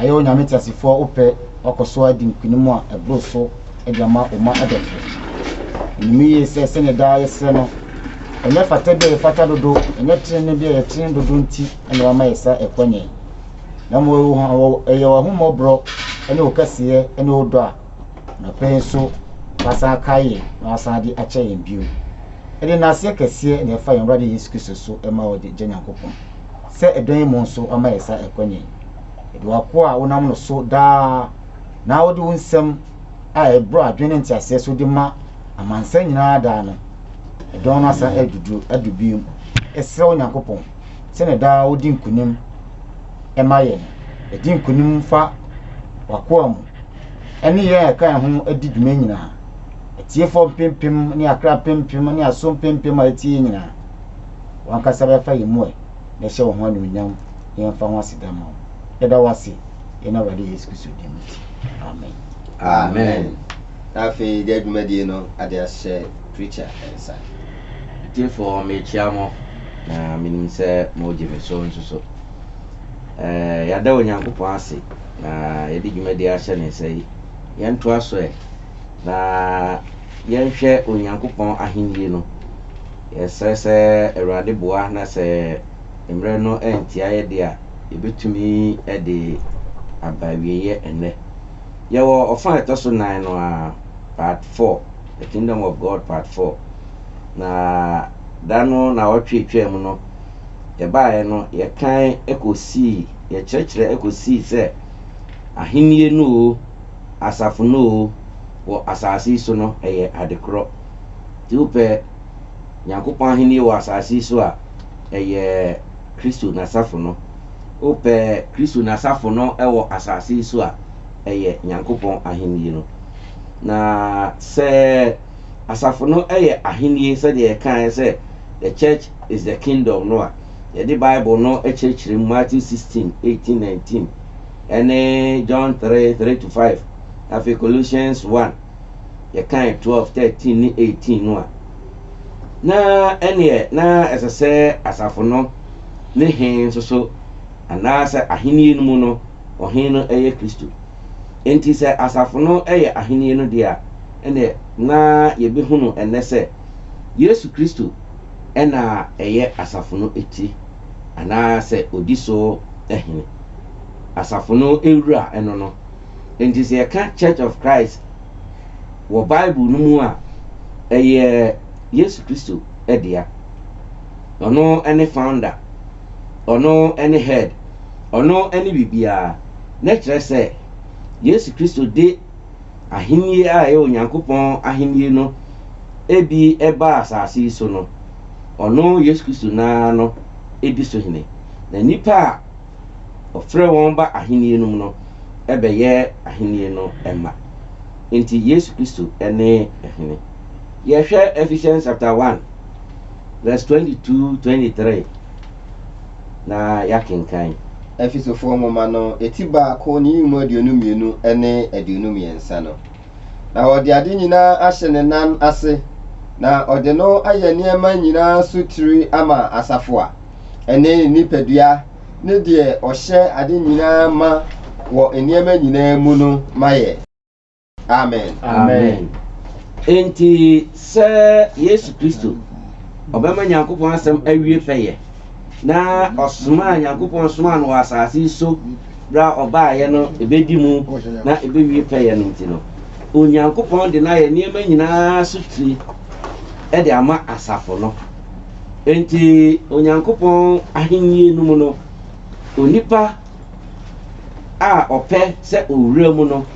Ayɛ Onyame teasefoɔ wo pɛ wakɔ so adi nkunim a ɛboro so de ama wo mma adɔfo. Wonim yie sɛ sɛdeɛ daa yɛsrɛ no, ɛnyɛ fata bi a yɛfata dodo, ɛnyɛ tenenee bi a yɛtene dodo nti na wama yɛ saa ɛkwanya yi, na mmom ɛyɛ w'ahummɔborɔ ne wo kɛseyɛ ne wo dɔ a anɔpa yi nso wasan akae yɛn na wasan de akyɛ yɛn bio. Yɛde nnaseɛ kɛseɛ na ɛfa yɛn Awurade Yesu Kristo so ma wo Agya Nyankopɔn. sɛ ɛdɛn mmom nso ama yɛn nsa rekɔ nnɛ yi. Yɛde w'akoa a wonam no so daa na wode wo nsɛm a ɛboro adwene ne nteaseɛ so de ma amansan nyinaa daa no dɔn no asan aduduro adu bio mu. Yɛsrɛ wo Nyankopɔn, sɛdeɛ daa wodi nkonim ma yɛn no, di nkonim fa w'akoa mu ne yɛn a yɛka yɛn ho di dwuma nyinaa, atiefoɔ mpempem ne akra mpempem ne aso mpempem a ɛtie yɛn nyinaa. W'ankasa bɛfa yɛn mu ɛ na ɛhyɛ wo ho anuonyam na yɛmfa ho aseda mma wo. Yɛda wo ase yɛn Awurade Yesu Kristo din mu. Amen. Amen. Na afei deɛ dwumadie no ade ahyɛ preacher nsa. Atiefoɔ mekyea mo na menim sɛ moregye me so nso so. Ɛɛ yɛada Onyankopɔn ase na yɛde dwumadie ahyɛ ne nsa yi. Yɛntoa so ɛ na yɛnhwɛ Onyankopɔn ahennie no. Yɛsrɛ sɛ Awurade boa na sɛ mmerɛ no antia yɛ deɛ a, yɛbɛtumi de aba awieɛ ɛnnɛ. Yɛwɔ ɔfa a ɛtɔ so nan no ara, Part Four, The Kingdom of God Part Four. Na da no nnawɔtwe twaa mu no, yɛbaeɛ no, yɛkan kɔsii, yɛkyerɛkyerɛ kɔsii sɛ Ahennie no oo, asafo no oo, wɔ asase yi so no, ɛyɛ adekorɔ. Nti wopɛ Nyankopɔn Ahenni wɔ asase yi so a, ɛyɛ Kristo N'asafo no. Wopɛ Kristo N'asafo no wɔ asase yi so a, ɛyɛ Nyankopɔn Ahenni no. Na sɛ asafo no yɛ ahenni sɛdeɛ yɛkaeɛ sɛ The church is the kingdom no a, yɛde Bible no kyerɛkyerɛ mu, Matthew 16, 18, 19, ne John 3, 3-5, afei Colossians 1, yɛkae 12, 13, ne 18 no a, na ɛnneɛ na ɛsɛ sɛ asafo no ne he nso so, anaasɛ ahennie no mu no, ɔhe no yɛ Kristo. Enti sɛ asafo no yɛ ahennie no deɛ a, ɛnneɛ na yɛbɛhunu ɛnnɛ sɛ Yesu Kristo na ɛyɛ asafo no ti, anaasɛ ɔdi so hene. Asafo no wura no no. Enti sɛ yɛka Church of Christ wɔ Bible no mu a, ɛyɛ Yesu Kristo dea. Ɔno ne founder, ɔno ne head, ɔno ne biribiara. Na ɛkyerɛ sɛ Yesu Kristo de ahenni a ɛyɛ Onyankopɔn ahenni no bi baa asase yi so no, ɔno Yesu Kristo no ara no di so hene. Na nnipa a Ɔfrɛɛ wɔn ba Ahenni no mu no bɛyɛ Ahenni no mma. Enti Yesu Kristo ne Hene. Yɛhwɛ Ephesians chapter one verse twenty two, twenty three na yɛakenkan. Efesofoɔ nwoma no ti baako ne yi mu aduonu mmienu ne aduonu mmiɛnsa no. na ɔde ade nyinaa ahyɛ ne nan ase, na ɔde no ayɛ nneɛma nyinaa so tiri ama asafo a ɛne ne nipadua ne deɛ ɔhyɛ ade nyinaa ma wɔ nneɛma nyinaa mu no ma yɛ. Amen. Amen. Enti sɛ Yesu Kristo, ɔbɛma Nyankopɔn asɛm awie pɛyɛ, na ɔsomaa Nyankopɔn somaa no wɔ asase yi so berɛ a ɔbaeɛ no ɛbɛdi mu na ɛbɛwie pɛyɛ no nti no, Onyankopɔn de no ayɛ nneɛma nyinaa so tire de ama asafo no. Enti Onyankopɔn ahennie no mu no, onipa a ɔpɛ sɛ ɔwura mu no,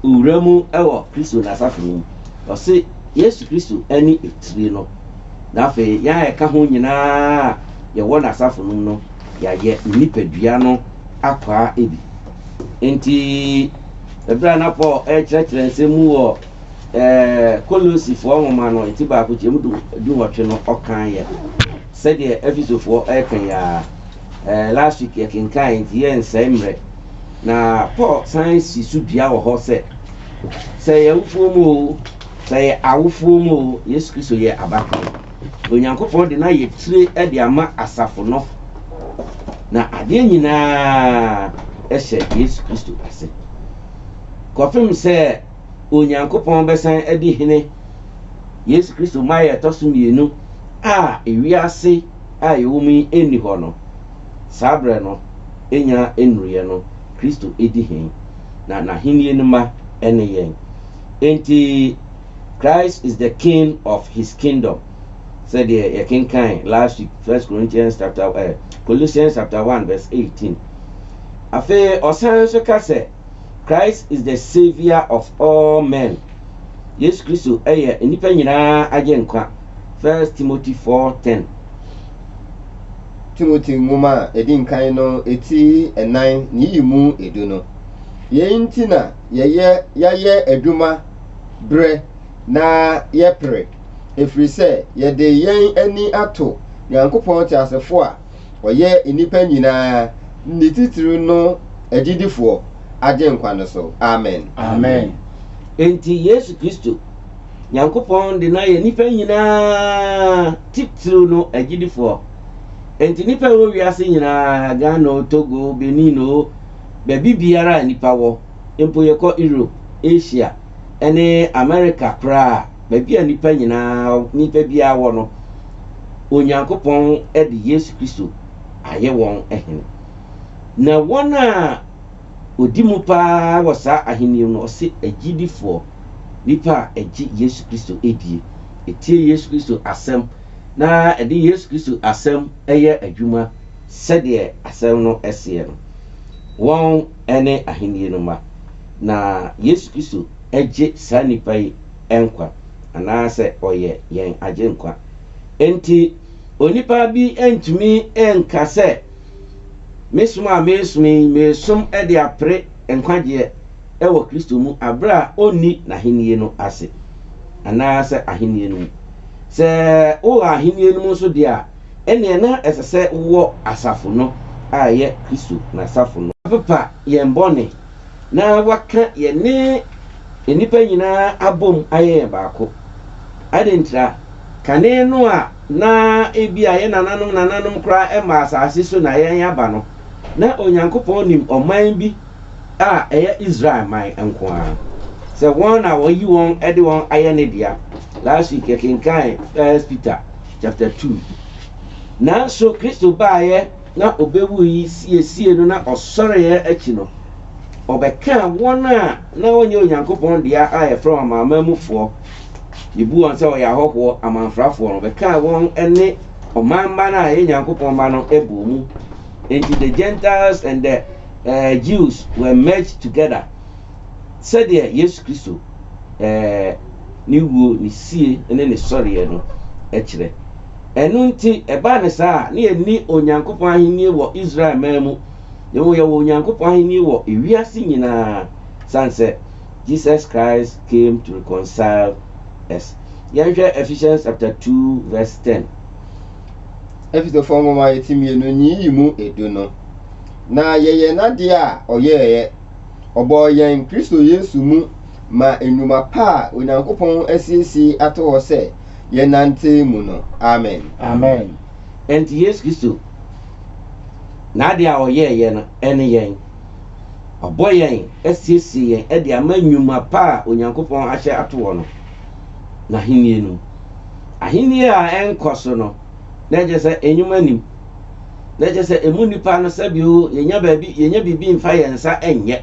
ɔwura mu wɔ Kristo n'asafo no mu. Ɔse Yesu Kristo ne etire no, na afei yɛn a yɛka ho nyinaa a yɛwɔ n'asafo no mu no, yɛayɛ ne nipadua no. akwaa bi. Enti, bere a na Paul rekyerɛkyerɛ nsɛm mu wɔ ɛɛ Kolosifoɔ nwoma no ti baako kyɛm du dunwɔtwe no, ɔkan yɛ sɛdeɛ Efisofoɔ reka yi ara. Ɛɛ last week yɛkenkan nti yɛnsɛe mmerɛ. Na Paul san si so dua wɔ hɔ sɛ sɛ yɛ awufoɔ mu o, sɛ yɛ awofoɔ mu o, Yesu Kristo yɛ abakan. Onyankopɔn de no ayɛ tire de ama asafo no, na adeɛ nyinaa hyɛ Yesu Kristo ase. Kɔpem sɛ Onyankopɔn bɛsan adi hene Yesu Kristo mmaeɛ a ɛtɔ so mmienu a ewiase a yɛwɔ mu yi nni hɔ no, saa berɛ no nya nnuruiɛ no, Kristo di he, na n'ahennie no mma ne yɛn. Enti, Christ is the king of his kingdom sɛdeɛ yɛkenkan last week First Corinthians chapter eh, Colossians chapter one verse eighteen. Afei ɔsan nso ka sɛ Christ is the saviour of all men. Yesu Kristo yɛ nnipa nyinaa agye nkwa. First Timothy four ten. Timothy nwoma a edi nkan no ti nnan ne yi mu edu no. Yei nti na yɛyɛ yɛayɛ adwuma berɛ na yɛpere, ɛfiri sɛ yɛde yɛn ani ato Nyankopɔn teasefoɔ a ɔyɛ nnipa nyinaa ne titire no agyidifoɔ Agyenkwa no so. Amen. Amen. Enti Yesu Kristo, Nyankopɔn de no ayɛ nnipa nyinaa titire no agyidifoɔ. Enti nnipa a ɛwɔ wiase nyinaa, Ghana o, Togo o, Benin o, baabi biara a nnipa wɔ, mpo yɛkɔ Europe, Asia, ne Amerika koraa a, baabi a nnipa nyinaa, nnipa biara wɔ no, Onyankopɔn de Yesu Kristo ayɛ wɔn Hene. Na wɔn a ɔdi mu paa wɔ saa ahenni no, ɔse agyidifoɔ, nnipa a ɛgye Yesu Kristo die, ɛtie Yesu Kristo asɛm, na ɛde Yesu Kristo asɛm yɛ adwuma sɛdeɛ asɛm no seɛ no, wɔn. ne Ahenni no mma. Na Yesu Kristo gye saa nnipa yi nkwa, anaasɛ ɔyɛ yɛn Agyenkwa. Enti onipa bi ntumi nka sɛ, Me som a meresom yi, meresom de apere nkwagyeɛ wɔ Kristo mu, berɛ a ɔnni N'Ahenni no ase, anaasɛ Ahenni no mu. Sɛ wowɔ Ahenni no mu nso deɛ a, ɛnneɛ na ɛsɛ sɛ wowɔ asafo no a ɛyɛ Kristo n'asafo no. Wɔapepa yɛn bɔne na wɔaka yɛne nnipa nyinaa abom ayɛ yɛn baako. Adɛn ntira? Kane no a na ebia yɛn nananom nananom koraa mmaa asase so na yɛn aba no, na Onyankopɔn nim ɔman bi a ɛyɛ Israel man nko ara, sɛ wɔn na wɔayi wɔn de wɔn ayɛ ne dea. Last week yɛkenkan First Peter chapter two. Nanso Kristo baeɛ na ɔbɛwu yi siesie no na ɔsɔreɛ akyi no, ɔbɛkaa wɔn a na wɔnyɛ Onyankopɔn dea a yɛfrɛ wɔn amanaman mufoɔ, yɛbu wɔn sɛ wɔyɛ ahɔhoɔ, amanfrafoɔ no, ɔbɛkaa wɔn ne ɔman mma no a ɛyɛ Nyankopɔn mma no bɔɔ mu. Enti the Gentiles and the eh, Jews were merged together sɛdeɛ Yesu Kristo eh, ne wuo, ne sie ne ne sɔreɛ no kyerɛ. Ɛno nti, ɛbaa ne saa a, na yɛnni Onyankopɔn ahennie wɔ Israel man mu, na mmom yɛwɔ Onyankopɔn ahennie wɔ ewiase nyinaa, sane sɛ Jesus Christ came to reconcile us. Yɛnhwɛ Ephesians chapter 2 verse 10. Efesofo nwoma eti mmienu nyiyi mu edu no, na yɛyɛ n'ade a ɔyɛeɛ. Ɔbɔɔ yɛn Kristo Yesu mu ma nnwuma pa a Onyankopɔn asiesie ato hɔ sɛ yɛnnante mu no. Amen. Amen. Enti Yesu Kristo, n'ade a ɔyɛeɛ no ne yɛn. Wabɔ yɛn asiesie yɛn de ama nnwuma pa a Onyankopɔn ahyɛ ato hɔ no, n'ahennie no mu. Ahennie a ɛnkɔ so no. na ɛkyerɛ sɛ nnwuma nnim. Na ɛkyerɛ sɛ emu nnipa no sɛbio yɛnya baabi yɛnya biribi mfa yɛn nsa nyɛ.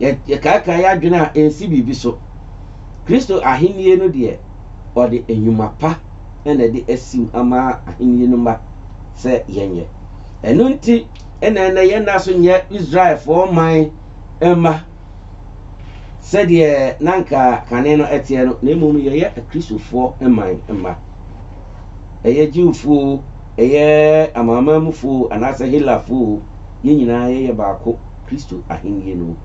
Yɛkaakae adwene a ɛnsi biribi so. Kristo ahennie no deɛ, ɔde nnwuma pa na ɛde asim ama ahennie no mma sɛ yɛnyɛ. Ɛno nti na ɛnɛ yɛnna so nyɛ Israelfoɔ man mma. sɛdeɛ na anka kane no ɛteɛ no, na mmom yɛyɛ Kristofoɔ man mma. Ɛyɛ Jewfoɔ o, ɛyɛ Amanamanmufoɔ o, anaasɛ Helafoɔ o, yɛn nyinaa yɛyɛ baako, Kristo Ahennie no.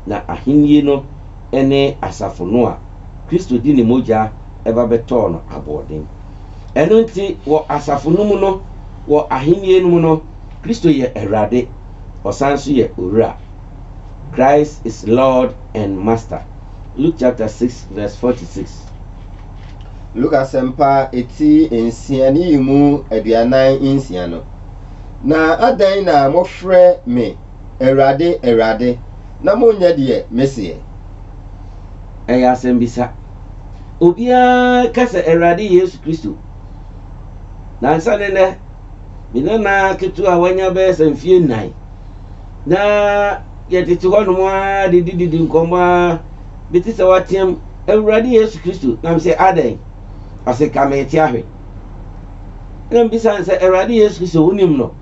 Na Ahennie no ne asafo no a Kristo de Ne mogya ba bɛtɔɔ no aboɔden. Ɛno nti, wɔ asafo no mu no, wɔ Ahennie no mu no, Kristo yɛ Awurade, Ɔsan nso yɛ Owura. Christ is Lord and Master. Luke chapter 6 verse 46. Luke asɛmpa eti nsia ne yi mu aduanan nsia no. Na adɛn na mofrɛ me Awurade, Awurade, na monyɛ deɛ meseɛ? Ɛyɛ asɛmbisa. Obiara ka sɛ Awurade Yesu Kristo. Nansa ne nnɛ, me nana ketewa a wanya bɛyɛ sɛ mfeɛ nnan, Na yɛtete hɔnom ara didididi nkɔmmɔ ara. Bi te sɛ wateam, Awurade Yesu Kristo! Na mesɛ, Adɛn? Ɔse, Ka me te ahwɛ. Na mebisa no sɛ, Awurade Yesu Kristo, wonim no?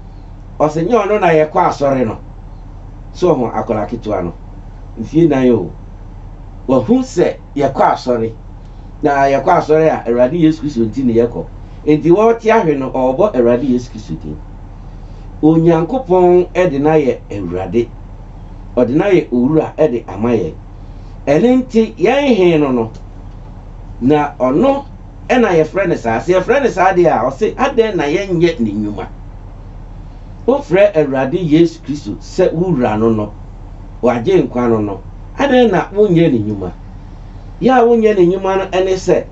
Ɔse, Nyɛ ɔno na yɛkɔ asɔre no. So ɔho akwadaa ketewa no? Mfie nan o, wahu sɛ yɛkɔ asɔre. Na yɛkɔ asɔre a, Awurade Yesu Kristo nti ne yɛkɔ. Enti wɔte ahwe no, ɔrebɔ Awurade Yesu Kristo din. Onyankopɔn de no ayɛ Awurade. Ɔde no ayɛ Owura de ama yɛn. Ɛno nti, yɛn He no no, na ɔno na yɛfrɛ no saa. Sɛ yɛfrɛ no saa deɛ a, ɔse, adɛn na yɛnyɛ ne nnwuma? Wofrɛ Awurade Yesu Kristo sɛ wo Wura no no, w'Agyenkwa no no, adɛn na wonyɛ ne nnwuma? Yɛ a wonyɛ ne nnwuma no ne sɛ,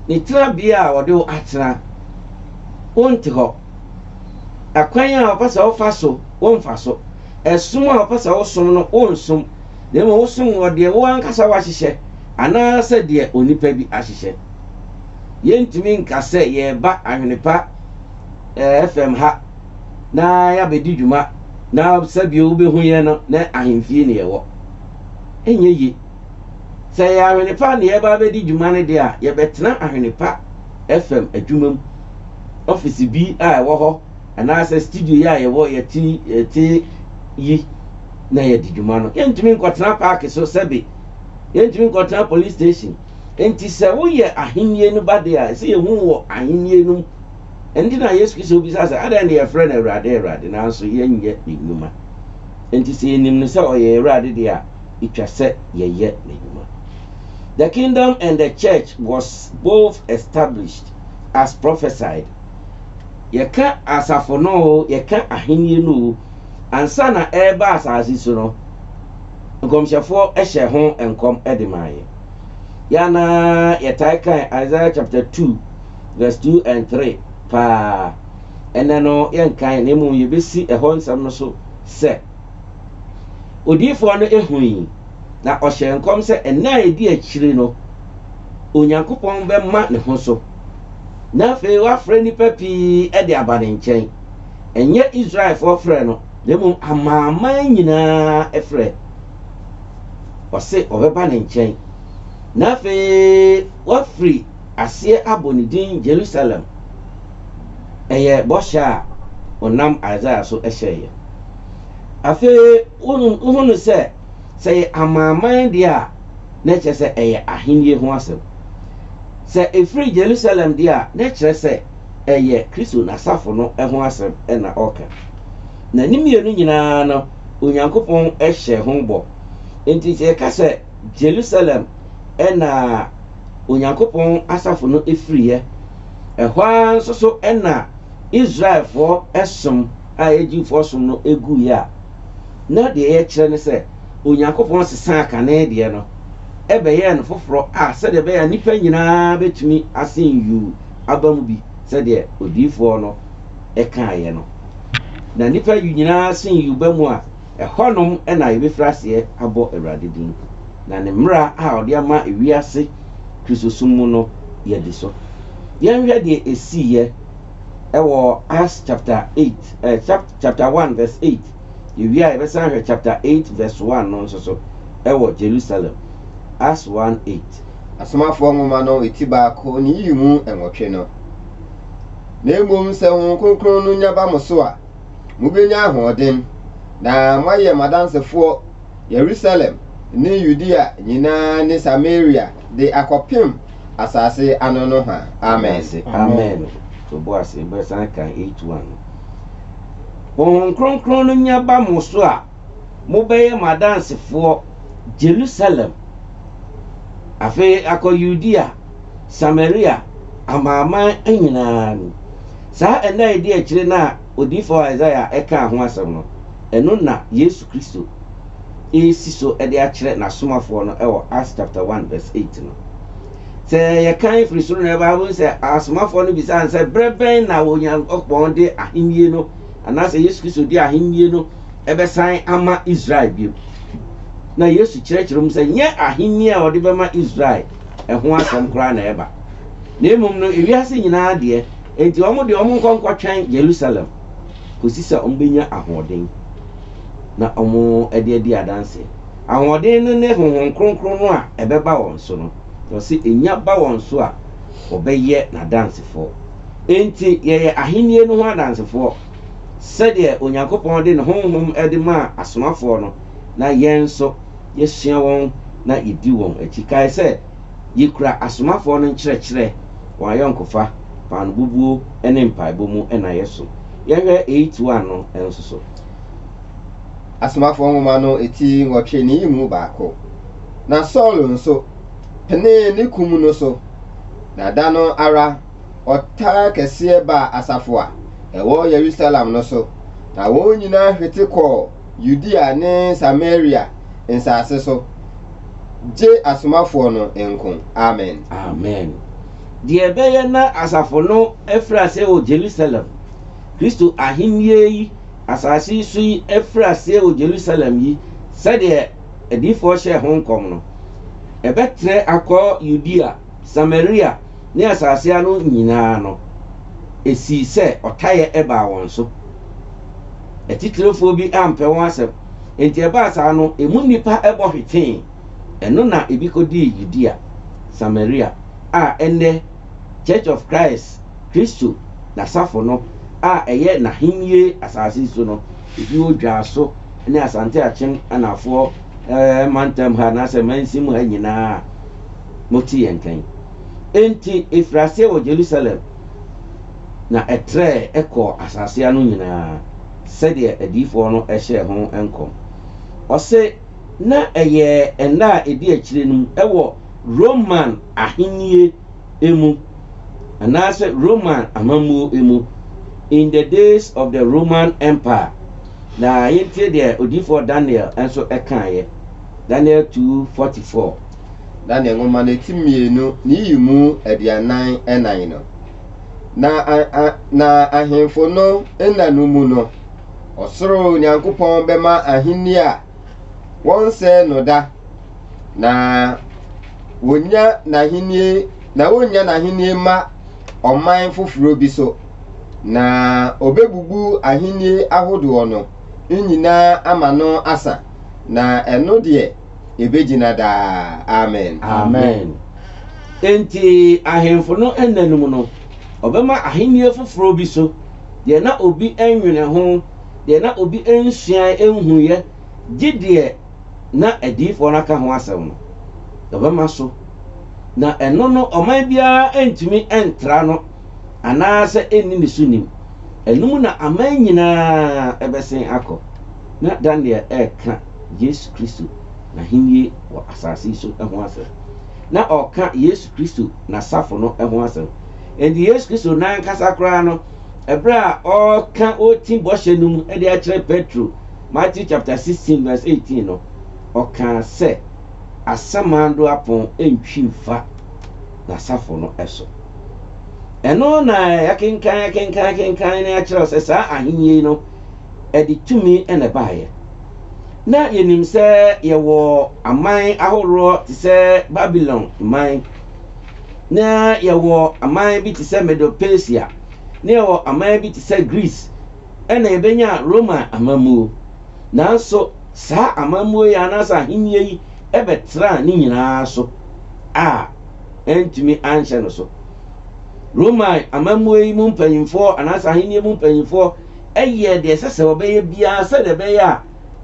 ne tenabea a ɔde wo atena, wonte hɔ. Akwan a wɔpɛ sɛ wɔfa so, womfa so. Ɛsom a wɔpɛ sɛ wosom no, wonsom. Na mmom wosom wɔ deɛ wo ankasa woahyehyɛ anaasɛ deɛ onipa bi ahyehyɛ. Yɛntumi nka sɛ yɛreba Ahwenepa eh, FM ha na yɛabɛdi dwuma na sɛbio wobɛhu yɛn no na ahemfie ne yɛwɔ. Ɛnyɛ yie. Sɛ ɛyɛ Ahwenepa na yɛreba abɛdi dwuma no deɛ a, yɛbɛtena Ahwenepa FM adwuma mu. ɔfese bi a ɛwɔ hɔ anaasɛ studio yi a yɛwɔ yɛte yɛte yi na yɛde dwuma no yɛntumi nkɔtena paake so sɛbe yɛntumi nkɔtena police station nti sɛ woyɛ ahennie no ba de a ɛsɛ yɛhu wɔ ahennie no mu ɛnti na yesu kristo bisa sɛ adɛn na yɛfrɛ no awurade awurade nanso yɛnyɛ ne nnwuma nti sɛ yɛnim no sɛ ɔyɛ awurade deɛ a ɛtwa sɛ yɛyɛ n'adwuma The kingdom and the church was both established. as prophesied. Yɛka asafo no oo, yɛka ahenni no oo, ansa na ɛreba asase so no, nkɔmhyɛfoɔ hyɛ ho nkɔm de maa yɛn. Yɛn a na yɛtae kan Isaiah chapter 2 verse 2 and 3 paa, ɛnɛ no yɛnkan na mmom yɛbɛsi ɛhɔ nsɛm no so sɛ, Odiyifoɔ no hui, na ɔhyɛɛ nkɔm sɛ nna a ɛdi akyire no, Onyankopɔn bɛma ne ho so, na afei wafrɛ nnipa pii de aba ne nkyɛn, ɛnyɛ Israelfoɔ frɛ no, na mmom amanaman nyinaa frɛ. Ɔse wɔbɛba ne nkyɛn, na afei wafiri aseɛ abɔ ne din Jerusalem. Ɛyɛ bɔhyɛ a ɔnam Isaiah so hyɛeɛ. Afei wohunu sɛ. Sɛ ɛyɛ amanaman deɛ a, na ɛkyerɛ sɛ ɛyɛ ahennie ho asɛm. Sɛ ɛfiri Yerusalem deɛ a, na ɛkyerɛ sɛ ɛyɛ Kristo n'asafo no ho asɛm na ɔreka. Na ne mmienu nyinaa no, Onyankopɔn hyɛɛ ho bɔ. Enti sɛ yɛka sɛ Yerusalem na Onyankopɔn asafo no firiiɛ, ɛhɔ ara nso so na Israelfoɔ som a ɛyɛ Jewfoɔ som no guiɛ a, na deɛ yɛkyerɛ ne sɛ Onyankopɔn sesaa kane deɛ no bɛyɛɛ no foforɔ a sɛdeɛ ɛbɛyɛ a nnipa nyina ara bɛtumi asen yuu aba mu bi sɛdeɛ odiyifoɔ no kaeɛ no. Na nnipa nyina ara sen yuu ba mu a, ɛhɔ nom na yɛbɛfiri aseɛ abɔ Awurade din, na ne mmara a ɔde ama wiase Kristosom mu no yɛadi so. Yɛnhwɛ deɛ ɛsiiɛ wɔ Acts chapter 8, eh, chap. chapter one verse eight. Yewie a, yɛbɛsan ahwɛ chapter eight verse one no nso so wɔ Jerusalem, Acts one eight. Asomafoɔ Nwoma no ti baako ne yiyi mu nwɔtwe no. Na mmom sɛ Honhom Kronkron no nya ba mo so a, mobɛnya ahoɔden, na moayɛ m'adansefoɔ Yerusalem ne Yudea nyinaa ne Samaria de akɔpem asase ano nohoa. Amen. Amen. Toboas yɛbɛsan kan eight one no. Honhom Kronkron no nya ba mo so a, mobɛyɛ m'adansefoɔ Jerusalem, afei akɔ Yudea, Samaria, amanaman nyinaa mu. Saa ɛnna a ɛdi akyire no a odiyifo Isaiah kaa ho asɛm no, ɛno na Yesu Kristo resi so de akyerɛ n'asomafoɔ no wɔ Acts chapter one verse eight no. Sɛ yɛkan firi soro na yɛba ha, wobɛhu sɛ asomafoɔ no bisaa no sɛ, berɛ bɛn na Onyankopɔn de ahennie no anaasɛ Yesu Kristo de ahennie no bɛsan ama Israel bio. Na Yesu kyerɛkyerɛ mu sɛ nyɛ ahennie a ɔde bɛma Israel ho asɛm koraa na ɛreba, na mmom no ewiase nyinaa deɛ. Enti wɔn deɛ, wɔnkɔ nkɔtwɛn Yerusalem kɔsi sɛ wɔbɛnya ahoɔden na wɔde adi adanseɛ. Ahoɔden no ne Honhom Kronkron no a ɛbɛba wɔn so no, na ɔse ɛnya ba wɔn so a, wɔbɛyɛ n'adansefoɔ. Enti yɛyɛ ahennie no ho adansefoɔ sɛdeɛ Onyankopɔn de ne Honhom de maa asomafoɔ no, na yɛn nso yɛsua wɔn na yɛdi wɔn akyi. Kae sɛ. Yekura asomafoɔ no nkyerɛkyerɛ, wɔn ayɔnkofa, paanobubuo, ne mpaebɔ mu na yɛsom. Yɛnhwɛ Eight One no nso so. Asomafoɔ Nwoma no ti nwɔtwe no yi mu baako. Na Saul nso penee ne kum no so, na da no ara ɔtaa kɛseɛ baa asafo a ɛwɔ Yerusalem no so, na wɔn nyinaa hwete kɔɔ Yudea ne Samaria nsase so. Gye Asomafoɔ no nko. Amen. Amen. Deɛ ɛbɛyɛ na asafo no afiri aseɛ wɔ Jerusalem, Kristo ahennie yi, asase yi so yi afiri aseɛ wɔ Jerusalem yi, sɛdeɛ adiyifoɔ hyɛɛ ho nkɔm no, ɛbɛtrɛ akɔ Yudea, Samaria ne asase ano nyinaa no, esii sɛ ɔtayɛ baa wɔn so. Atitirefoɔ bi ampɛ wɔn asɛm, enti ɛbaa saa no, emu nnipa bɔ hwetee. Ɛno na ebi kɔdii Yudea, Samaria, a ɛnnɛ Church of Christ, Kristo N'asafo no, a ɛyɛ N'ahennie asase so no, ebi wɔ Dwaso ne Asante Akyem Anaafoɔ mantam ha anaasɛ mansin mu ha nyinaa. Moti yɛn nkan. Enti ɛfirii aseɛ wɔ Jerusalem, na ɛtrɛɛ kɔɔ asase ano nyina ara, sɛdeɛ adiyifoɔ no hyɛɛ ho nkɔm. Ɔse, na ɛyɛ nna a ɛdi akyire no mu wɔ Roman ahennie mu, anaasɛ Roman amammuo mu, in the days of the Roman Empire. Na yɛntie deɛ odiyifoɔ Daniel nso kaeɛ, Daniel 2, 44. na ne nwoma no ti mmienu ne yi mu aduanan ɛnan no. Na, a, a, na ahemfo no nna no mu no, ɔsoro Nyankopɔn bɛma ahenni a wɔnsɛe no da, na wɔnya n'ahenni, na wɔnya n'ahenni ma ɔman foforɔ bi so, na ɔbɛbubu ahenni ahodoɔ no nyinaa ama no asa, na ɛno deɛ ebegyina daa. Amen. Amen. Enti, ahemfo no nna no mu no, wɔbɛma ahenni foforo bi so deɛ na obi nnwene ho, deɛ na obi nsuae nhuiɛ, gye deɛ na adiyifoɔ no aka ho asɛm no, wɔbɛma so. Na ɛno no, ɔman biara ntumi ntra no anaasɛ ɛnni ne so nnim. Ɛno mu na aman nyinaa bɛsen akɔ. Na Daniel reka Yesu Kristo n'Ahenni wɔ asase yi so ho asɛm. Ná ɔreka Yesu Kristo n'asafo no ho asɛm. Enti Yesu Kristo no ankasa koraa no, bere a ɔreka ɔretim bɔhyɛ no mu de akyerɛ Petro, Matthew chapter 16 verse 18 no, ɔkaa sɛ, Asamando apon ntwi mfa n'asafo no so. Ɛno na yɛakenkan akenkan akenkan na yɛakyerɛw sɛ saa Ahenni no ɛde tumi na ɛbaeɛ. Ná yɛnim sɛ yɛwɔ aman ahoroɔ te sɛ Babilon man, na yɛwɔ aman bi te sɛ Medo-Persia, na yɛwɔ aman bi te sɛ Greece, ɛna yɛbɛnya Roma amammuo. Nanso saa amammuo yi anaasɛ ahennie yi bɛtraa ne nyinaa so a, antumi anhyɛ no so. Roma amammuo yi mu mpanimfoɔ anaasɛ ahennie mu mpanimfoɔ yɛɛ deɛ ɛsɛ sɛ wɔbɛyɛ biara sɛdeɛ ɛbɛyɛ a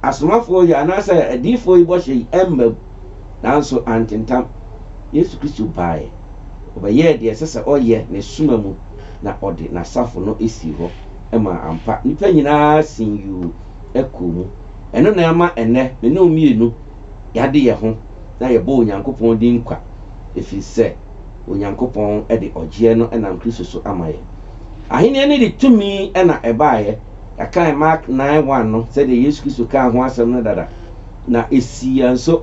asomafoɔ yi anaasɛ adiyifoɔ yi bɔhyɛ yi mma mu, nanso antentam. Yesu Kristo baeɛ, ɔbɛyɛɛ deɛ ɛsɛ sɛ ɔyɛ ne soma mu, na ɔde n'asafo no sii hɔ maa ampa nnipa nyinaa sin yuu kɔɔ mu. Ɛno na ɛma ɛnnɛ me ne wo mmienu yɛade yɛn ho na yɛbɔ Onyankopɔn din kwa, ɛfiri sɛ Onyankopɔn de ɔgyeɛ no nam Kristo so ama yɛn. Ahenni no de tumi na ɛbaeɛ. Yɛakan Mark nine one no sɛdeɛ Yesu Kristo kaa ho asɛm no dada, na ɛsiiɛ nso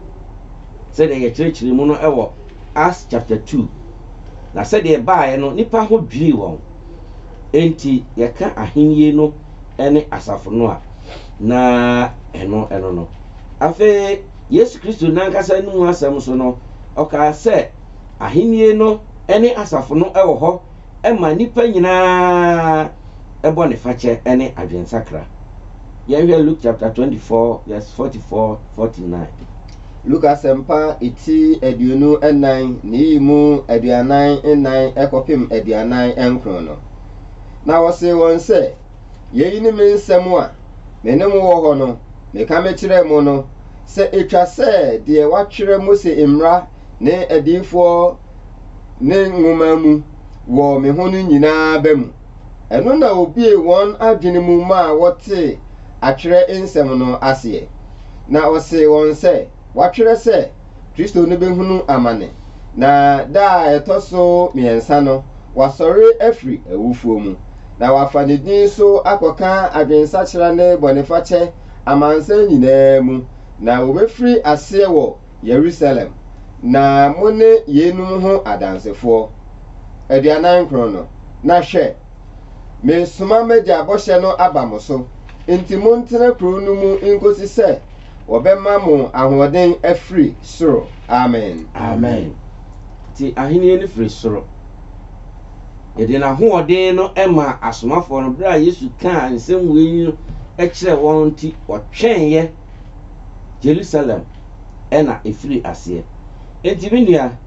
sɛdeɛ yɛkyerɛkyerɛɛ mu no wɔ Acts chapter two. Na sɛdeɛ ɛbaeɛ no, nnipa ho dwirii wɔn. Enti yɛka Ahenni no ne asafo no a, na ɛno no no. Afei Yesu Kristo n'ankasa ne mu asɛm nso no, ɔkaa sɛ Ahenni no ne asafo no wɔ hɔ ma nnipa nyinaa bɔnefakyɛ ne adwensakra. Yɛnhwɛ Luke chapter twenty four verse forty four, forty nine. Luke Asɛmpa ti aduonu nnan na eyi mu aduanan nnan kɔpem aduanan nkron no. Na ɔsee wɔn sɛ, Yei ne me nsɛm a me ne mo wɔ hɔ no, meka mekyerɛɛ mo no, sɛ etwa sɛ deɛ wɔatwerɛ Mose mmara ne adiyifoɔ ne nwoma mu wɔ me ho no nyinaa ba mu. Ɛno na wɔbue wɔn adwene mu maa wɔtee atwerɛ nsɛm no aseɛ. Na ɔsee wɔn sɛ, Wɔatwerɛ sɛ, Kristo no bɛhunu amane, na da a ɛtɔ so mmiɛnsa no wasɔre afiri awufoɔ mu, na wafa ne din so akɔka adwensakyera ne bɔnefakyɛ amansan nyinaa mu, na wɔbɛfiri aseɛ wɔ Yerusalem, na mo ne yeinom ho adansefoɔ, aduanan nkron no, na hwɛ, meresoma m'Agya bɔhyɛ no aba mo so, nti montena kuro no mu nkɔsi sɛ wɔbɛma mo ahoɔden afiri soro. Amen. Amen. Nti ahennie no firi soro. Yɛde n'ahoɔden no maa asomafoɔ no, berɛ a Yesu kaa nsɛm wei no kyerɛɛ wɔn no nti wɔtwɛneɛ. Jerusalem na ɛfirii aseɛ. Enti me nua,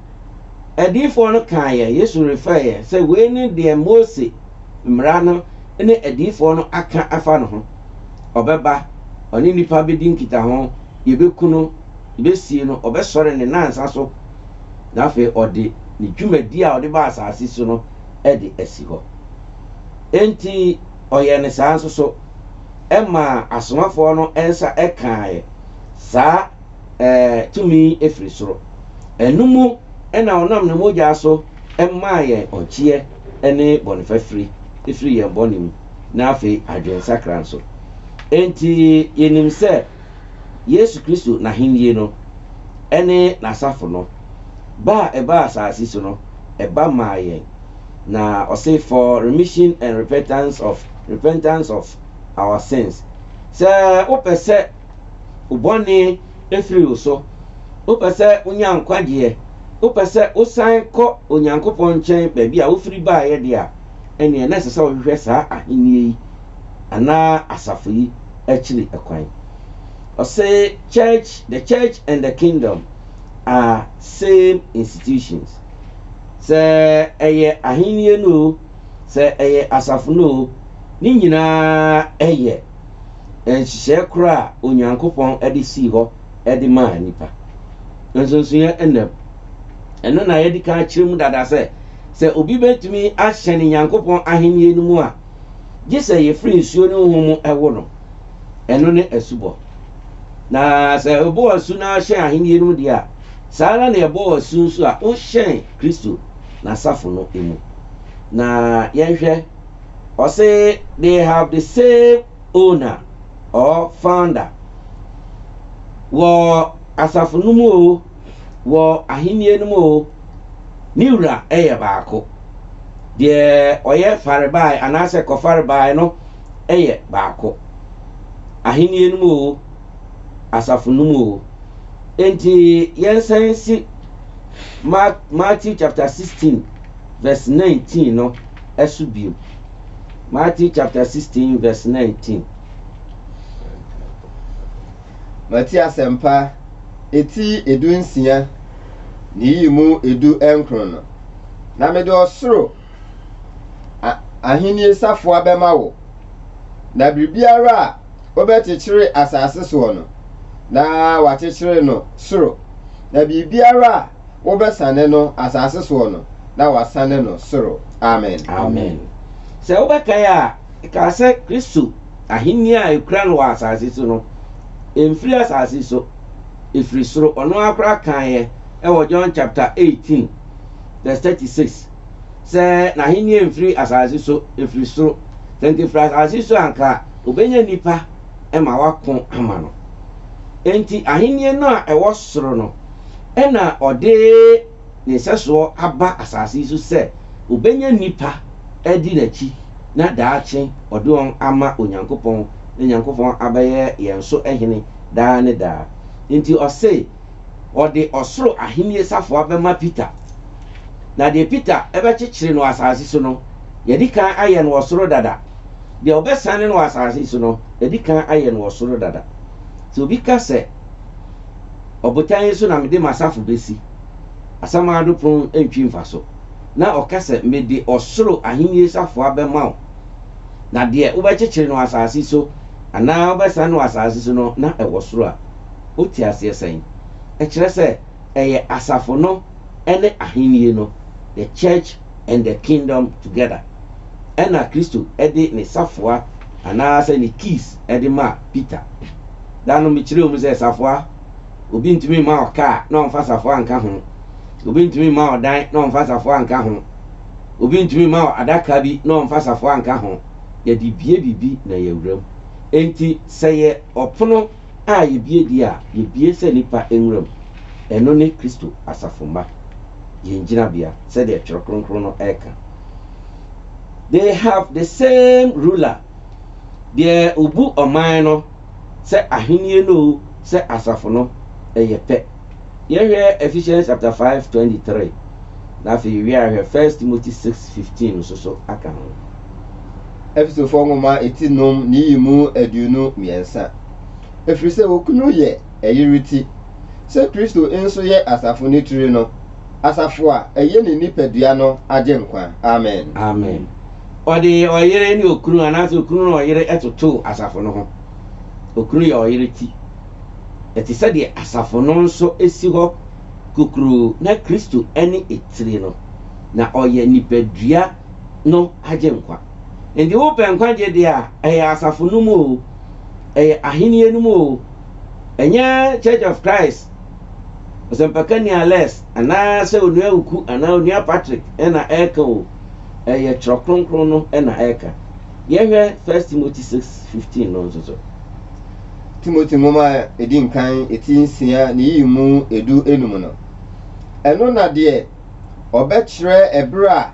adiyifoɔ no kaeɛ, Yesu refɛeɛ, sɛ wei ne deɛ Mose mmara no ne adiyifoɔ no aka afa ne ho. Ɔbɛba, ɔne nnipa bɛdi nkitaho, yɛbɛku no, yɛbɛsie no, ɔbɛsɔre ne nnansa so, na afei ɔde ne dwumadie a ɔde baa asase so no de asi hɔ. Enti. Ɔyɛɛ no saa nso so. Ɛmaa asomafoɔ no nsa kaaɛ saa tumi yi firi soro. Ɛno mu na ɔnam ne mogyaa so maa yɛn ɔnkyeɛ ne bɔnefafiri firi yɛn bɔne mu, na afei adwensakra nso. Enti yɛnim sɛ Yesu Kristo n'ahennie no ne n'asafo no ba a ɛbaa asase so no ba maa yɛn. Na ɔse for remission and repentance of repentance of our sins. Sɛ wopɛ sɛ wo bɔne firi wo so, wopɛ sɛ wonya nkwagyeɛ, wopɛ sɛ wosan kɔ Onyankopɔn nkyɛn baabi a wofiri baeɛ deɛ a, ɛnneɛ na ɛsɛ sɛ wohwehwɛ saa ahennie yi anaa asafo yi akyiri kwan. Ɔse church, the church and the kingdom are same institutions. Sɛ ɛyɛ Ahenni no oo, sɛ ɛyɛ asafo no oo, ne nyinaa yɛ nhyehyɛe koro a Onyankopɔn de sii hɔ de maa nnipa. Nsonsonoɛ nna mu. Ɛno na yɛadi kan akyerɛ mu dada sɛ, sɛ obi betumi ahyɛne Nyankopɔn Ahenni no mu a, gye sɛ yefiri nsuo ne honhom mu wo no. Ɛno ne asubɔ. Na sɛ wobɔ asu na ahyɛn Ahenni no mu deɛ a, Saa ara na yɛbɔ asu nso a wohyɛn Kristo n'asafo no mu. Na yɛnhwɛ, ɔse they have the same owner or founder. Wɔ asafo no mu oo, wɔ ahennie no mu oo, ne wura yɛ baako. Deɛ ɔyɛ farebae anaasɛ kɔfarebae no yɛ baako, ahennie no mu oo, asafo no mu oo. Enti yɛnsan nsi Mark, Matthew chapter 16 verse 19 no so bio. Matthew chapter 16 verse 19. Mate asɛmpa eti edu nsia ne yiyi mu edu nkron no, na mede ɔsoro a, ahenni safoa bɛma wo, na biribiara a wobɛkyekyere asase soɔ no, na wakyekyere no soro, na biribiara a wobɛsane no asase soɔ no, na wasane no soro. Amen. Amen. Sɛ wobɛkae a, yɛkaa sɛ Kristo ahennie a yɛkura no wɔ asase so no, ɛmfiri asase so, ɛfiri soro. Ɔno ara koraa kaeɛ wɔ John chapter 18 verse 36 sɛ n'ahennie mfiri asase so, ɛfiri soro. Sɛ anka ɛfiri asase so a, anka Obenya nnipa ma wɔako ama no. Enti Ahenni no a ɛwɔ soro no na ɔde ne nsɛsoɔ aba asase yi so sɛ obenya nnipa adi n'akyi na daakye ɔde wɔn ama Onyankopɔn na Nyankopɔn abɛyɛ yɛn so Hene daa ne daa. Enti ɔse ɔde ɔsoro Ahenni safoa bɛma Peter. Na deɛ Peter bɛkyekyere no wɔ asase so no, yɛadi kan ayɛ no wɔ soro dada. Deɛ wɔbɛsane no wɔ asase yi so no, wɔadi kan ayɛ no wɔ soro dada. Sɛ obi ka sɛ, Ɔbotan yi so na mede m'asafo bɛsi, asamando pon ntwi mfaso, na ɔka sɛ, Mede ɔsoro ahennie safoa bɛma wo, na deɛ wobɛkyekyere no wɔ asase so anaa wobɛsane no wɔ asase so no, na ɛwɔ soro a, wote aseɛ sɛn? Ɛkyerɛ sɛ, ɛyɛ asafo no ne ahennie no, the church. and the Kingdom Together, ɛnna Kristo de ne safoa anaasɛ ne keys de maa Peter. Da no mekyerɛɛ mu sɛ safoa, obi ntumi mma ɔkaa na ɔmfa safoa nka ho, obi ntumi mma ɔdan na ɔmfa safoa nka ho, obi ntumi mma adaka bi na ɔmfa safoa nka ho, yɛde bue biribi na yɛawura mu. Enti sɛ yɛ ɔpono. a yebue deɛ a yebue sɛ nnipa nwura mu, ɛno ne Kristo asafo mma, yɛn gyinabea, sɛdeɛ Twerɛ Kronkron no reka. They have the same ruler, deɛ ɔbu ɔman no, sɛ ahennie no o, sɛ asafo no, ɛyɛ pɛ. Yɛhwɛ Ephesians chapter five twenty three na afei yɛwie a hwɛ First Timothy six fifteen nso so aka ho. Efesofoɔ nwoma eti nom ne yi mu aduonu mmiɛnsa. Ɛfiri sɛ okunu yɛ ɛyere ti, sɛ Kristo nso yɛ asafo no tiri no, asafo a ɛyɛ ne nipadua no Agyenkwa. Amen. Amen. Ɔde ɔyere ne okunu anaasɛ okunu ne ɔyere totoo asafo no ho. Okunu yɛ ɔyere ti. Ɛte sɛ deɛ asafo no nso si hɔ kokuroo na Kristo ne etire no, na ɔyɛ nipadua no Agyenkwa. Enti wopɛ nkwagyeɛ deɛ a, ɛyɛ asafo no mu oo, ɛyɛ ahennie no mu oo, ɛnyɛ Church of Christ, Ɔsɛmpakani Alex anaa sɛ Onua Oku anaa Onua Patrick na ɛreka oo, ɛyɛ Twerɛ Kronkron no na ɛreka. Yɛhwɛ First Timothy six fifteen no nso so. Timothy nwoma a edi nkan ti nsia ne yiyi mu edu enum no. Ɛno na deɛ ɔbɛkyerɛ ɛberɛ a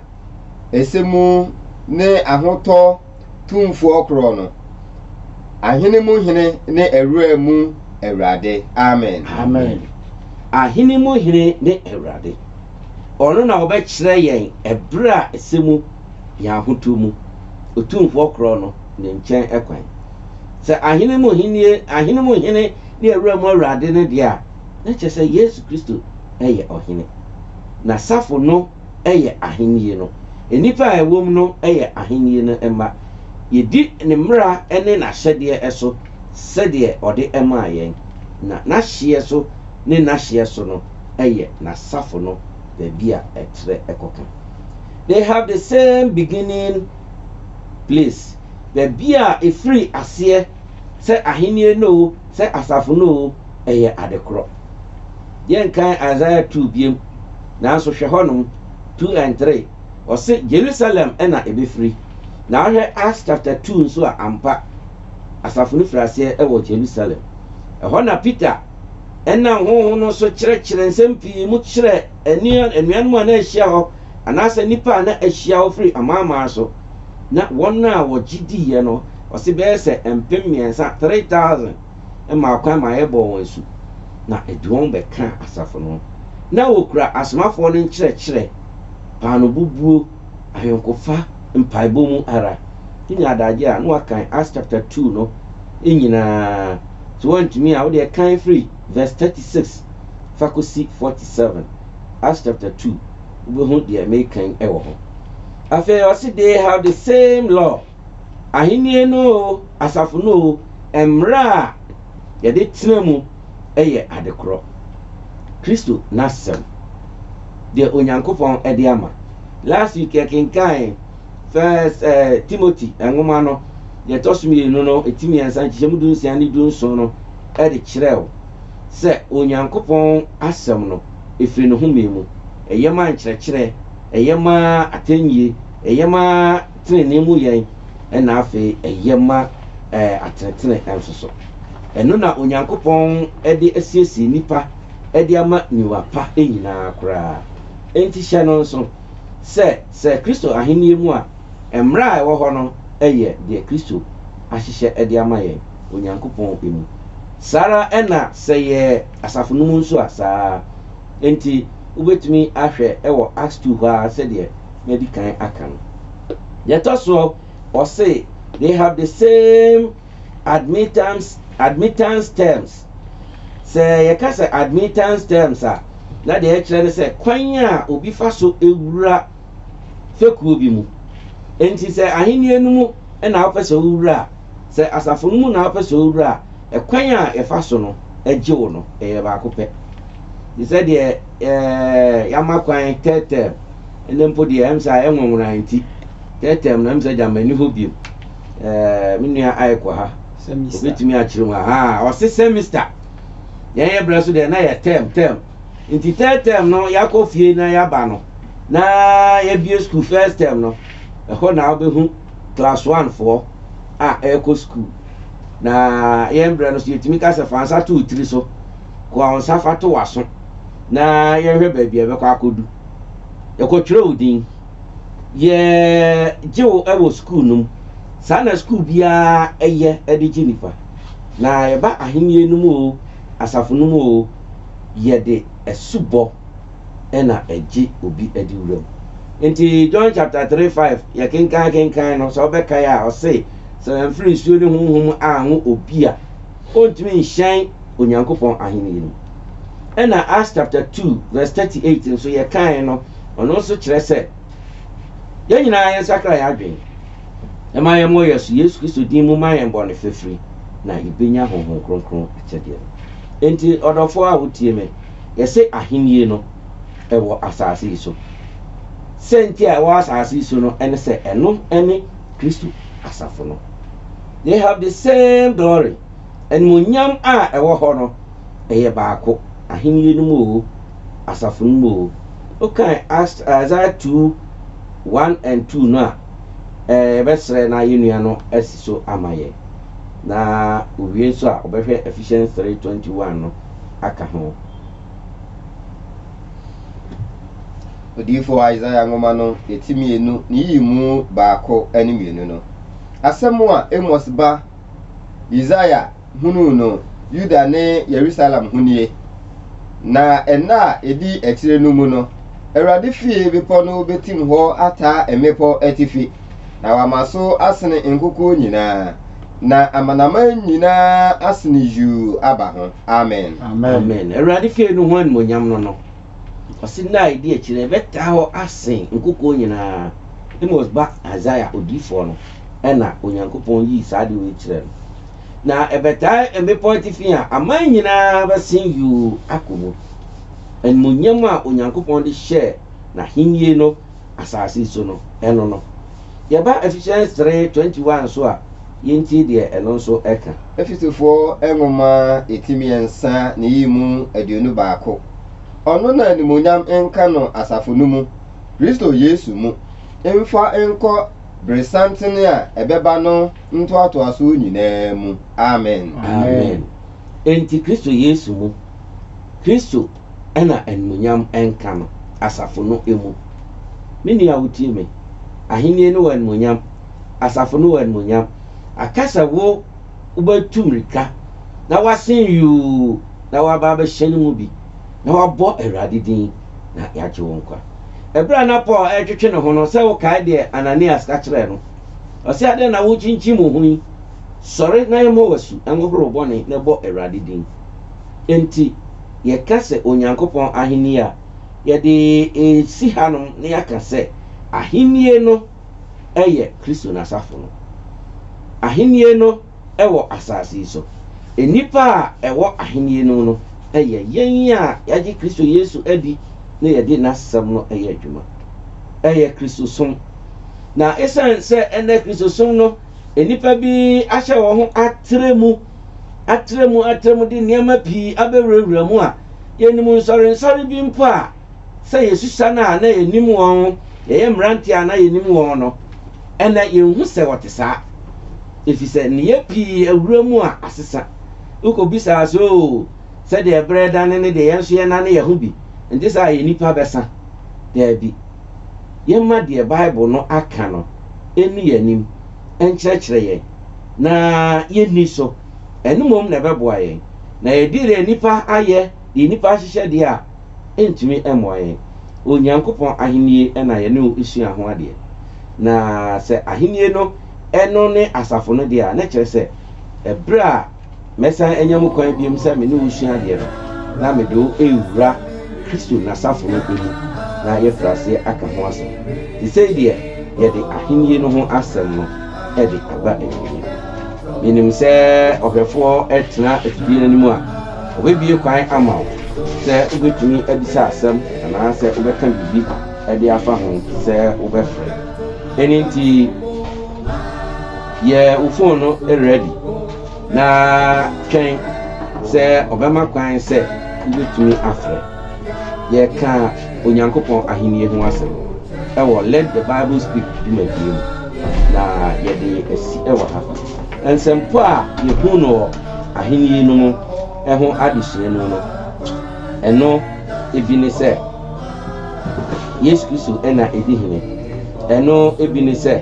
ɛsɛ mu ne ahotɔ Tumfoɔ korɔ no, ahene mu Hene ne awura mu Awurade. Amen. Amen. Ahene mu Hene ne Awurade. Ɔno na ɔbɛkyerɛ yɛn ɛberɛ a ɛsɛ mu. yɛn ahotuo mu, Otumfoɔ korɔ no ne nkyɛn kwan. Sɛ ahene mu Hene, ahene mu Hene ne awura mu Awurade no deɛ a, na kyerɛ sɛ Yesu Kristo yɛ Ɔhene. N'asafo no yɛ ahennie no. Nnipa a ɛwom no yɛ ahennie no mma. Yɛdi ne mmara ne n'ahyɛdeɛ so sɛdeɛ ɔde maa yɛn, na n'ahyeɛ so ne n'ahyeɛ so no yɛ n'asafo no baabi a ɛtrɛ kɔka. They have the same beginning place, baabi a ɛfiri aseɛ, sɛ ahennie no o, sɛ asafo no o, ɛyɛ ade korɔ. Yɛnkan Isaiah 2 biom, nanso hwɛ hɔnom, 2 and 3, ɔse Jerusalem na ɛbɛfiri. Na wohwɛ Acts chapter 2 nso a, ampa, asafo no firi aseɛ wɔ Jerusalem. Ɛhɔ na Peter nam Honhom no so kyerɛkyerɛ nsɛm pii mu kyerɛɛ anua, anuanom a na ahyia hɔ, anaasɛ nnipa a na ahyia hɔ firi amanaman so. Na wɔn a wɔgye diiɛ no, ɔse bɛyɛ sɛ mpem mmiɛnsa, 3,000, maa kwan maa yɛbɔɔ wɔn asu, na ɛde wɔn bɛkaa asafo no ho. Na wɔkura asomafoɔ no nkyerɛkyerɛ, paanobobuo, ahwenkofa, mpaebɔ mu ara. Wonya adagyeɛ a, na wɔakan Acts chapter two no nyinaa. Sɛ woantumi a, wodeɛ kan firi. verse thirty six fa kɔsi forty seven, Acts chapter two, wobɛhu deɛ mereka yi wɔ ho. Afei ɔse they have the same law, ahennie no o, asafo no o, mmerɛ a yɛde tena mu yɛ adekorɔ. Kristo n'asɛm, deɛ Onyankopɔn de ama. Last week yɛkenkan First eh, Timothy nwoma no, Deɛ ɛtɔ so mmienu no, eti mmiɛnsa, nkyekyɛmu du nsia ne du nson no de kyerɛw sɛ Onyankopɔn Asɛm no, ɛfiri ne home mu, ɛyɛ ma nkyerɛkyerɛ, ɛyɛ ma atɛnnyie, ɛyɛ ma tenenee mu yɛn, ɛna afei ɛyɛ ma atenetene nso so. Ɛno na Onyankopɔn de asiesie nnipa de ama niwa pa nyinaa koraa. Enti hyɛ no nso sɛ, sɛ Kristo Ahennie mu a, Mmara a ɛwɔ hɔ no yɛ deɛ Kristo ahyehyɛ de ama yɛn, Onyankopɔn mu. Saa ara na sɛ yɛ asafo no mu nso a, saa ara. Enti wobɛtumi ahwɛ wɔ Acts two hɔ ara sɛdeɛ madi kan aka no. Deɛ ɛtɔ soɔ, ɔse, They have the same admittance, admittance terms. Sɛ yɛka sɛ admittance terms a, na deɛ ɛkyerɛ ne sɛ kwan a obi fa so wura fekuo bi mu. Enti sɛ Ahenni no mu na wopɛ sɛ wowura a, sɛ asafo no mu na wopɛ sɛ wowura a, ɛkwan a yɛfa so no gye wo no, ɛyɛ baako pɛ. Te sɛ deɛ yɛama kwan third term, ɛnɛ mpo deɛ ɛm sɛ ayɛ nwonwona nti, third term no ɛm sɛ gyama nni hɔ biom. Me nua Ike wɔ ha, ɔbɛtumi akyerɛ mu. Ahaa, ɔse semester. Yɛn yɛbrɛ so deɛ na yɛ term term. Nti third term no yɛakɔ fie na yɛaba no, na yɛabue sukuu first term no, ɛhɔ na wobɛhu class one foɔ a ɛrekɔ sukuu. Na yɛn berɛ no so yɛtumi ka sɛ fa nsa to wo tiri so, koa wo nsa fa to w'aso na yɛnhwɛ baabi a ɛbɛkɔ akɔdu. Yɛkɔtwerɛ wo din, yɛgye wo wɔ sukuu no mu. Saa na sukuu biara yɛ de gye nnipa. Na yɛba ahennie no mu o, asafo no mu o, yɛde asubɔ na ɛgye obi adi wuram. Nti John chapter three five yɛ kenkan kenkan no sɛ wobɛkae a ɔse sɛ wamfiri nsuo ne honhom anwo obi a ɔntumi nhyɛn Onyankopɔn ahennie no mu. Ɛna Acts chapter two verse thirty eight nso yɛ kae no ɔno nso kyerɛ sɛ yɛn nyinaa yɛn sakra yɛn adwene na ma yɛn mmɔ yɛn so Yesu Kristo din mu ma yɛn bɔne fafiri na yɛbɛnya honhom kronkron akyɛdeɛ no. Nti ɔdɔfoɔ a wotie me. Yɛse ahennie no wɔ asase yi so. Sɛ nti a ɛwɔ asase yi so no ne sɛ ɛno ne Kristo asafo no. They have the same glory. Animuonyam a ɛwɔ hɔ no, ɛyɛ baako, ahennie no mu oo, asafo no mu oo. Wokan Isaiah 2, 1 and 2 no a, eh, yɛbɛsrɛ na yɛn nua no asi so ama yɛn. Na owie nso a, ɔbɛhwɛ Ephesians 3, 21 no aka ho. Odiyifo Isaiah nwoma no eti mmienu ne yiyi mu baako ne mmienu no, asɛm a Amos ba Yesaia hunuu no Yuda ne Yerusalem ho nie, Na nna a edi akyire no mu no, Awurade fie bepɔ no betim hɔ ataa mmepɔ atifi. na wama so asene nkokoɔ nyinaa, na amanaman nyinaa asene yuu aba ho. Amen. Amen. Awurade fie no ho animonyam no no, ɔse nna a ɛdi akyire ɛbɛtaa hɔ asen nkokoɔ nyinaa. Amos ba Isaiah odiyifoɔ no na Onyankopɔn yii saa adeɛ wei kyerɛɛ no. Na ɛbɛtaa mmepɔ atifi a aman nyinaa bɛsen yuu akɔ mu. Animonyam a Onyankopɔn de hyɛɛ n'ahennie no asase so no, ɛno no. Yɛba Efehyɛn stre twenty one so a, yentie deɛ ɛno nso ka. Efesofoɔ nwoma eti mmiɛnsa ne yi mu aduonu baako, Ɔno na animuonyam nka no asafo no mu, Kristo Yesu mu, mfa nkɔ beresantene a ɛbɛba no ntoatoasoɔ nyinaa mu. Amen. Amen. Enti Kristo Yesu mu, Kristo. na animuonyam nka no asafo no mu. Me nua a wutie me, Ahenni no wɔ animuonyam, asafo no wɔ animuonyam. Aka sɛ wo wobɛtu mmirika na woasen yuu na woaba abɛhyɛ no mu bi na woabɔ Awurade din na yɛagye wo nkwa. Bere a na Paul retwetwe ne ho no, sɛ wokae deɛ Ananias ka kyerɛɛ no, ɔse, Adɛn na worekyinkyim wo ho yi? Sɔre na yɛmmɔ wo asu, nhohoro wo bɔne na bɔ Awurade din. Enti, yɛka sɛ Onyankopɔn Ahenni a, yɛde resi hanom na yɛaka sɛ Ahenni no yɛ Kristo n'asafo no. Ahenni no wɔ asase yi so. Nnipa a ɛwɔ Ahenni no mu no yɛ yɛn a yɛagye Kristo Yesu adi na yɛde n'asɛm no yɛ adwuma. Ɛyɛ Kristosom. Na esiane sɛ ɛnnɛ Kristosom no, nnipa bi ahyɛ wɔn ho atrɛ mu atrɛmu atrɛmu de nneɛma pii abɛwurawura mu a yenim nsɔrensɔre bi mpo a sɛ yesusua no a na yenim wɔn, yɛyɛ mmerante a na yenim wɔn no. Ɛnnɛ yenhu sɛ wɔte saa, efisɛ nneyɛe pii awura mu a asesa. Wokobisa a, so sɛdeɛ bere redane no de yɛn nso yɛnane yɛn ho bi nte saa a yɛn nipa bɛsa? Daabi. Yɛmma deɛ Bible no aka no nnu yɛn anim nkyerɛkyerɛ yɛn. na yenni so. Ɛno mmom na ɛbɛboa yɛn. Na yɛde deɛ nnipa ayɛ, deɛ nnipa ahyehyɛ deɛ a, ɛntumi mmoa yɛn. Onyankopɔn Ahennie na yɛne wo sua ho adeɛ. Na sɛ Ahennie no, ɛno ne asafo no deɛ a, na ɛkyerɛ sɛ, ɛberɛ a. Mɛsan anya mu kwan bio sɛ me ne wo resua adeɛ no, na mede wo rewura Kristo ne n'asafo no mu, na yɛafiri aseɛ aka ho asɛm. Seesei deɛ, yɛde Ahennie no ho asɛm no de aba awieeɛ. Menim sɛ ɔhwɛfoɔ tena afidie no anim a, ɔbɛbue kwan ama wo sɛ wobɛtumi abisa asɛm anaasɛ wobɛka biribi de afa ho sɛ wobɛfrɛ. Ɛno nti. Yɛ wo fon no rɛdi na twɛn sɛ ɔbɛma kwan sɛ wubetumi afrɛ. Yɛka Onyankopɔn Ahenni ho asɛm wɔ Let the Bible Speak dwumadie mu, na yɛde asi wɔ ha. Nsɛmpa a yɛhu no wɔ Ahenni no mu ho adesua mu no, ɛno bi ne sɛ. Yesu Kristo na edi hene. Ɛno bi ne sɛ,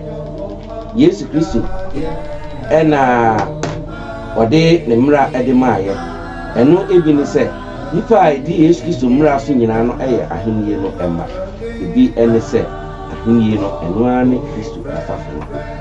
Yesu Kristo na ɔde ne mmara de maayɛ. Ɛno bi ne sɛ, nnipa a edi Yesu Kristo mmara so nyinaa no yɛ ahenni no mma. Ebi ne sɛ, ahenni no, ɛno ara ne Kristo asafo no.